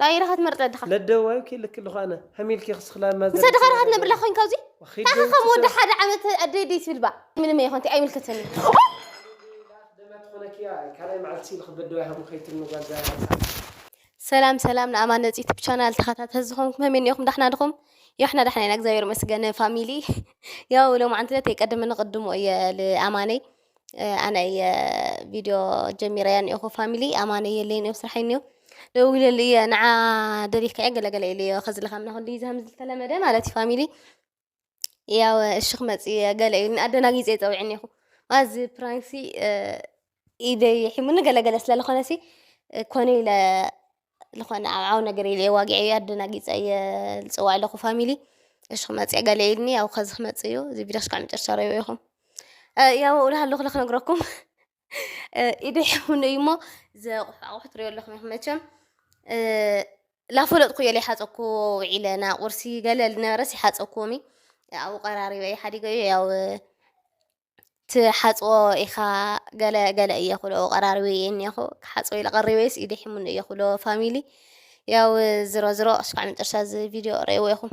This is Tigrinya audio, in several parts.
ናይ ኢራኻ ትመርጽ ኣለኻ ለደዋይ ክልክ ልዃነ ሕሚልኪ ክስክላ ማዘ ምስ ኣደኻ ኢራኻ ትነብር ኣለኻ ኮይንካ እዙይ ታኻ ከም ወዲ ሓደ ዓመት ኣደይ ደይ ትብል ባ ምንም ኣይኾን እንታይ ኣይምልከተኒ ሰላም ሰላም ንኣማን ነጽ ዩቱብ ቻናል ተኸታተል ዝኾንኩም ከመይ እኒኹም ዳሕና ድኹም ያሕና ዳሕና ኢና እግዚኣብሔር መስገነ ፋሚሊ ያው ሎማዓንቲ ዕለት የቀድም ንቅድሞ እየ ልኣማነይ ኣነ እየ ቪድዮ ጀሚረያ እኒኦኹ ፋሚሊ ኣማነ የለይ እኒኦ ስራሕ እኒኦ ደዊለሉ እየ ንዓ ደሪፍካ እየ ገለገለ ኢሉ እዮ ከዝለካ ምና ክንዲ ዝሃም ዝተለመደ ማለት እዩ ፋሚሊ ያው እሺ ክመፅ እየ ገለ ኢሉኒ ኣደናጊፀ ይፀውዒ እኒኹ ማዚ ፕራንሲ ኢደይ ሒሙኒ ገለገለ ስለዝኾነ ሲ ኮነ ኢለ ዝኾነ ኣብ ዓው ነገር ኢለ እየ ዋጊዐዮ እየ ኣደናጊፀ እየ ዝፅዋዕ ዘለኹ ፋሚሊ እሺ ክመፅእ ገለ ኢሉኒ ያው ከዚ ክመፅእ እዩ እዚ ቪድዮ ክሳዕ መጨረሻ ርኣይዎ ኢኹም ያው እብልሃለኹ ኢለ ክነግረኩም ኢደ ሕሙን እዩ እሞ ዘቑሑ ኣቑሑ ትሪኦ ኣለኹም ኢኹም መቸም ላፈለጥኩ እየ ለይሓፀኩ ውዒለ ና ቁርሲ ገለ ዝነበረስ ይሓፀኩዎም እዩ ኣብኡ ቀራሪበ እየ ሓዲገ እዩ ያው ትሓጽቦ ኢኻ ገለ ገለ እየ ክብሎ ቀራርቢ እየ እኒኹ ክሓጽቦ ኢለ ቀሪበይስ ኢደ ሒሙኒ እየ ክብሎ ፋሚሊ ያው ዝሮ ዝሮ እስካዕ መጨረሻ እዚ ቪድዮ ረእዎ ኢኹም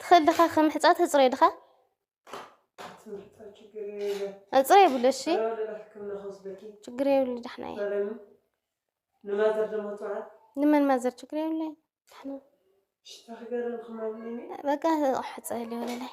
ትኽእል ድኻ ከምሕፃ ተፅረይ ድኻ እፅረ የብሉ እሺ ችግር የብሉ ዳሕና ንመን ማዘር ችግር የብሉ ዳሕና በቃ ሕፀ ሊሆነ ላይ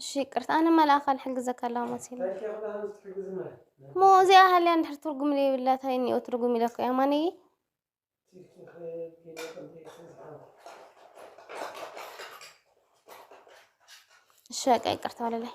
እሺ ይቅርታ ኣነ መልኣኽ ኣልሕግዘካ ኣለዋ መሲሉ እሞ እዚኣ ሃልያ እንድሕር ትርጉም ዘይብላ እንታይ እኒኦ ትርጉም ኢለካ እያ ማንየ እሺ በቃ ይቅርታ ወለላይ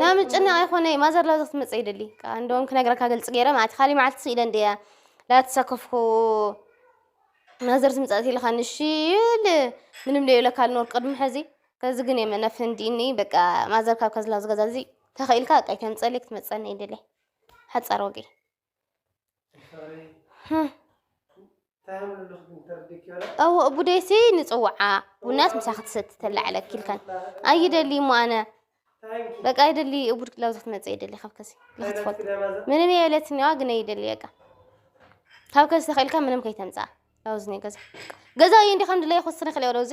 ና ምጭናቕ ኣይኮነ ማዘር ላብዚ ክትመፅእ ይደሊ ከዓ እንደውም ክነግረካ ግልፂ ገይረ ማለት ካሊእ መዓልቲ ስኢለ እንድያ ላተሳከፍኩ ማዘር ትምፃእ ኢልካ ንሺ ይብል ምንም ለይብለካ ልኖር ቅድሚ ሕዚ ከዚ ግን የመ ነፍንዲኒ በቃ ማዘር ካብ ከዝላ ዝገዛ እዚ ተኸኢልካ በቃ ይተምፀለይ ክትመፀኒ ይደለ ሓፃር ወገይ ጠውቕ ቡደይሲ ንፅውዓ ቡናስ ምሳ ክትሰቲ ተላ ዕለኪ ኢልካን ኣይደሊ እሞ ኣነ በቃ ኣይደሊ እቡድ ክላብ ክትመፅእ ይደሊ ካብ ከሲ ንክትፈልጥ ምንም የብለትኒዋ ግን ኣይደሊ በቃ ካብ ከሲ ተኽኢልካ ምንም ከይተምፅኣ ላውዝ ገዛ ገዛ እዩ እንዲ ከም ድለይ ክወስነ ክልኦ ላውዚ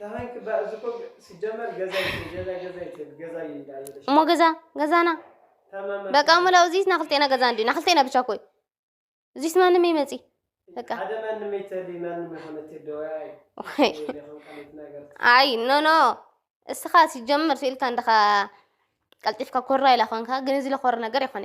ዳሃይ ክባ እዚ እኮ ሲጀመር ገዛይ ገዛይ ገዛይ ትብል ገዛይ እንዳ ይለሽ እሞ ገዛ ገዛና ተማማ በቃ ሙላው እዚስ ናክልቴና ገዛ እንዲ ናክልቴና ብቻ ኮይ እዚስ ማንም ይመጺ በቃ ሓደ ማንም ይተሊ ማንም የሆነት ደዋይ ወይ ይኹን ቀሊት ነገር ኣይ ኖ ኖ እስኻ ሲጀመር ስኢልካ እንደኻ ቀልጢፍካ ኮራ ኢላ ኮንካ ግን እዚ ለኾር ነገር ይኾነ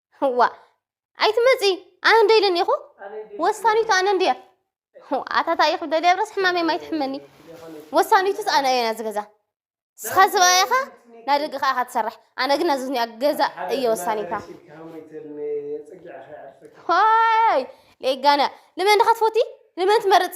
ዋእ ኣይትመፂ ኣነ እንደ ኢለን ኢኹ ወሳኒቱ ኣነ እንድየ ኣታ እንታይ ኢኹ ደልያ ብረስ ሕማመይ ማይ ትሕመኒ ወሳኒቱስ ኣነ እየ ናዚ ገዛ ንስኻ ሰብኣይ ኢኻ ናይ ደገ ከዓ ኢኻ ትሰርሕ ኣነ ግን ናዚ ዝኒኣ ገዛ እየ ወሳኒታ ሆይ ሌጋነ ልመን ድኻ ትፈትይ ልመን ትመርፅ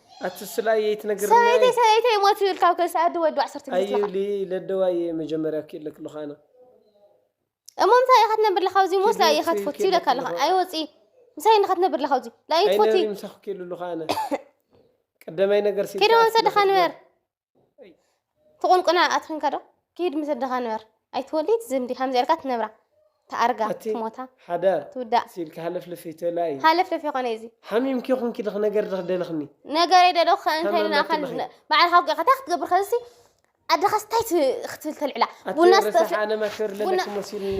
ኣቲ ስላ የይ ትነግርኒ ኣይ ሰበይተይ ሰበይተይ ሞት ይብል ካብ ከስ ኣዲ ወዱ ዓሰርተ ጊዜ ኣዩ ትለኻ ሊ ለደዋ እየ መጀመርያ ክኢለ ክለኹ ኣነ እሞ ምሳይ ኢኻ ትነብር ለኻ ኣብዚ ሞስ ኪዲ ላኢ ኢኻ ውፅኢ ትፈቱ ኪዲ ይብለካ ኣለኻ ክለኹ ኣይ ወፂ ምሳይ እንኻ ትነብር ለኻ ኣብዚ ላኢ ትፈቲ ኣይነብሪ ምሳኹ ኪሉ ኣለኹ ኣነ ቀደማይ ነገር ኪዲ ስኢልካ ወሰድኻ ንበር ክትነብር ትቁንቁና ኣትክን ከዶ ኪድ ምስ ኣደኻ ንበር ኣይትወሊድ ዝምዲ ከምዚ ኣልካ ትነብራ ትኣርጋ ኣቲ ትሞታ ሓዳር ትውዳእ ሲልኪ ሃለፍለፍ ይተላ እዩ ሃለፍለፍ ይኾነ እዩ እዚ ሓሚምኪ ኮንኪ ድኽ ነገር ድኽ ደለኽኒ ነገረይ ደዶ ክኸእን ከይሉ ታመመቲ ንኣኻን ብኺ ባዕልኻ ውቂዕካ እንታይ ክትገብር ከዚ ኣደኻስ እንታይ ት- ክትብል ተልዕላ ኣቲ ቡና ስተ ረሳሕ ኣነ ማሸር ቡና- ለለኪ መሲልኒ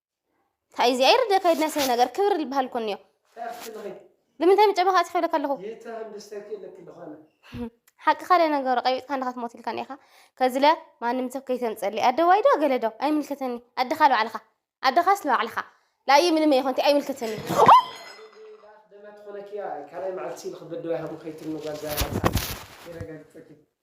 እንታይ እዚኣ ይርደ ከይድና ስለ ነገር ክብሪ ዝበሃል እኮ እኒኦ ንምንታይ ምጨበኻ ፅሒብለካ ኣለኹ ሓቂ ካልእ ነገሩ ቀቢፅካ እንዳ ክትሞት ኢልካ እኒኻ ከዝለ ማንም ሰብ ከይተምፀሊ ኣደዋይ ዶ ገለ ዶ ኣይምልከተኒ ኣድኻ ልባዕልኻ ኣድኻስ ልባዕልኻ ላዩ ምንም ይኾንቲ ኣይምልከተኒ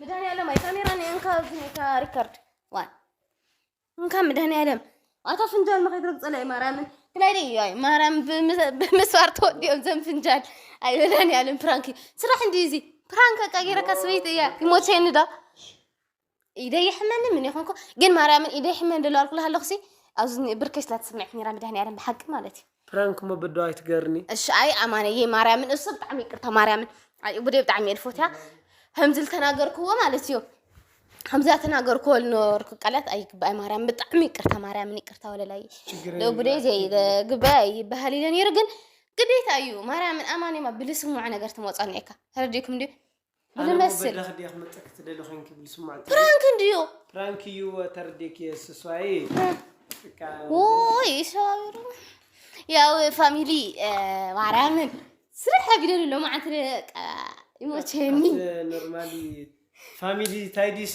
መድኃኒዓለም ኣይ ካሜራ ናይ እንካ ዝኒካ ሪከርድ ዋን እንካ መድኃኒዓለም ኣታ ፍንጃል መኸይ ትረግጸለ ኣይ ማርያምን ክላይ ደይ ኣይ ማርያም ብምስዋር ተወዲኦም ዘም ፍንጃል ኣይ መድኃኒዓለም ፕራንክ ስራሕ እንዲ እዚ ፕራንክ ኣቃ ጌረካ ስበይቲ እያ ይሞቸኒ ዶ ኢደይ ይሕመኒ ምን ይኹንኩ ግን ማርያምን ኢደይ ይሕመኒ ደሎ ኣልኩላ ኣለኹሲ ኣብዚ ብርከይ ስላ ትስምዕ ኔራ መድሃኒኣለም ብሓቂ ማለት እዩ ፕራንክ እሞ ብዶ ኣይትገርኒ እሺ ኣይ ኣማነየ ማርያምን እሱ ብጣዕሚ ይቅርታ ማርያምን ኣይ ቡደ ብጣዕሚ እየ ልፎትያ ከምዚ ዝተናገርክዎ ማለት እዩ ከምዚ ተናገርክዎ ልነበርኩ ቃላት ኣይግባኣይ ማርያም ብጣዕሚ ይቅርታ ማርያምን ይቅርታ ወለላይ ቡደ ዘይግባይ ኣይበሃል ኢለ ነይሩ ግን ግዴታ እዩ ማርያምን ኣማንየማ ብልስሙዐ ነገር ትመፃኒ እየካ ተረዲእኩም ድዩ ምን እመስል ፕራንክ እንድዩ ፕራንክ እዩ ተርዴክ የስሷይ ውይ ሰባቢሩ ያው ፋሚሊ ማርያምን ስራሕ ቢደሉ ሎ መዓንቲ ይሞቸኒ ኖርማሊ ፋሚሊ ታይዲሲ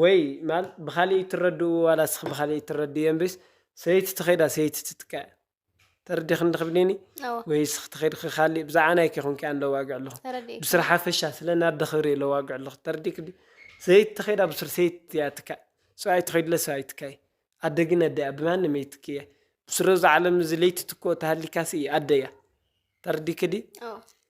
ወይ ማለት ብካሊእ ይትረድኡ ዋላ እስኪ ብካሊእ ይትረድእዮ እምብስ ሰበይቲ ተከይዳ ሰበይቲ ትትካእ እያ ተረዲክኒ ድኪ ብሌኒ እወ ወይ እስኪ ተከድኪ ካሊእ ብዛዕባ ናይ ከይኮንኪ ኣነ ለዋግዕ ኣለኩ ተረዲእካ ብስር ሓፈሻ ስለ ናይ ኣደ ክብሪ እየ ለዋግዕ ኣለኩ ተረዲእኪ ድዩ ሰበይቲ ተከይዳ ብሱር ሰበይቲ እያ ትካእ ሰብኣይ ተከይዱለ ሰብኣይ ይትካእ እዩ ኣደ ግን ኣደ እያ ብማንም ኣይትክእ እያ ብሱር ኣብዛ ዓለም እዚ ለይትትክኦ ተሃሊካሲ ኣደ እያ ተረዲእኪ ድዩ እወ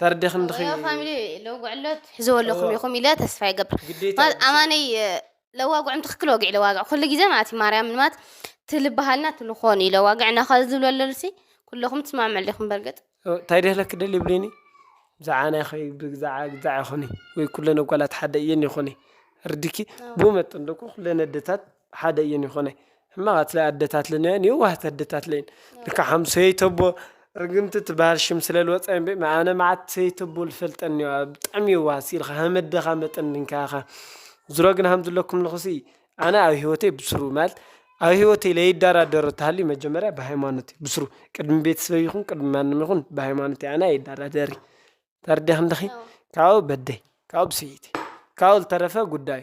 ተረዲኽን ዲኺ? እወ ፋሚሊ ለውግዕሎ ትሕዝዎ ኣለኹም ኢኹም ኢለ ተስፋ ይገብር ማለት ኣማነይ ለዋግዑም ትክክል ወግዒ ለዋግዕ ኩሉ ግዜ ማለት እዩ ማርያም ማለት ትልበሃልና ትልኾን እዩ ለዋግዕ እና ካብ ዝብሎ ኣለሉሲ ኩለኹም ትስማዕምዑ ኣለኹም በርግጥ እንታይ ደህለክ ደል ይብልኒ ብዛዕባ ናይ ኸይ ብዛዕባ ግዛዕ ይኹኒ ወይ ኩለን ኣጓላት ሓደ እየን ይኹኒ ርድኪ ብኡ መጠን ደኩ ኩለን ኣደታት ሓደ እዩን ይኾነ ሕማቃትለይ ኣደታትልን እዮን የዋህት ኣደታትለይን ልካ ሓም ሰይተቦ ርግምቲ ትበሃል ሽም ስለ ልወፃ ብ ኣነ መዓት ሰይተቦ ልፈልጠን እዮ ብጣዕሚ የዋሃት ሲኢልካ ሃመደኻ መጠን ድንካኻ ዝሮ ግን ሃም ዝለኩም ልኹሲ ኣነ ኣብ ህይወተይ ብስሩ ማለት ኣብ ህይወተይ ለይዳራደሮ ተሃልዩ መጀመርያ ብሃይማኖት እዩ ብስሩ ቅድሚ ቤት ስበይ ይኹን ቅድሚ ማንም ይኹን ብሃይማኖት ኣነ ኣይዳራደሪ ተርዲኽንደኺ ካኡ በደይ ካኡ ብሰይቲ ካኡ ልተረፈ ጉዳዩ።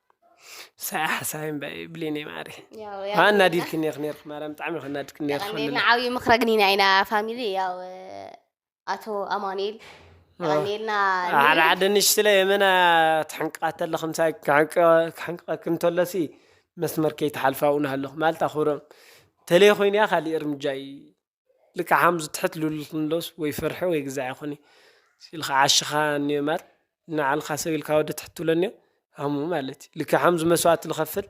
ሳይ ሓሳብ እምበይ ብሌነይ ማዕረይ ያው ያው ኣናዲድክኒ ኢኺ ነርኪ ማርያም ብጣዕሚ ኢኺ ኣናዲድክኒ ነርኪ የቀኔልና ዓብዪ ምኽረ ግን ኢና ኢና ፋሚሊ ያው ኣቶ ኣማኑኤል የቀኔልና ሓደ ሓደ ንሽትለ የመና ትሕንቅቃ ተለኺ ምሳይ ክሕንቅቀኪ እንተሎሲ መስመር ከይትሓልፋ እውን ኣለኹ ማለት ኣኽብሮም ተለይ ኮይኑ እያ ካሊእ እርምጃ እዩ ልክዕ ሃምዚ ትሕት ልብል ክንዶስ ወይ ፍርሒ ወይ ግዛዕ ይኾን እዩ ኢልካ ዓሽኻ እንዮ እምበር ንዓልኻ ሰብ ኢልካ ወዲ ትሕት ትብሎ እንዮ ሃሙ ማለት እዩ ልክዕ ሃምዚ መስዋእቲ ልኸፍል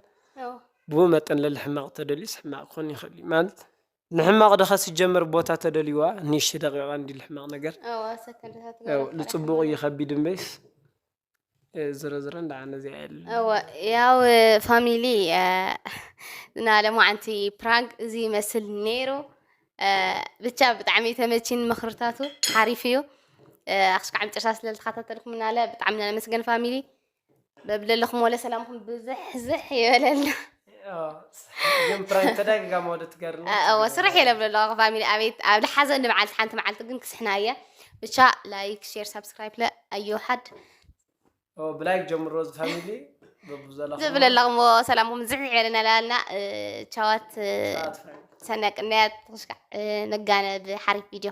ብኡ መጠን ለሊ ሕማቕ ተደልዩስ ሕማቕ ክኾን ይኽእል እዩ ማለት ንሕማቕ ድኸ ስጀመር ቦታ ተደልዩዋ ንእሽቲ ደቂቓ እንዲ ልሕማቕ ነገር ልፅቡቕ እዩ ከቢድ እምበይስ ዝሮ ዝሮ እንዳ ነዚያ የለ ያው ፋሚሊ እና ለማዓንቲ ፕራንክ እዚ ይመስል ነይሩ ብቻ ብጣዕሚ ተመቺን ምክርታቱ ሓሪፍ እዩ ኣክስካዕ መጨረሻ ስለ ዝተኸታተልኩምና ለ ብጣዕሚ ነመስገን ፋሚሊ በብለለኹም ወለ ሰላምኩም ብዝሕዝሕ ይበለልና ስራሕ የለ ብሎ ኣለኹ ፋሚሊ ኣቤት ኣብ ልሓዘን ንበዓልቲ ሓንቲ መዓልቲ ግን ክስሕና እየ ብቻ ላይክ ሼር ሳብስክራይብ ለ ኣዮ ሓድ ብላይክ ጀምሮ ፋሚሊ ዝብል ኣለኹሞ ሰላምኩም ዝሕሕ ይበለና ላልና ቻዋት ሰናይ ቅንያት ክሽካዕ ነጋነ ብሓሪፍ ቪድዮ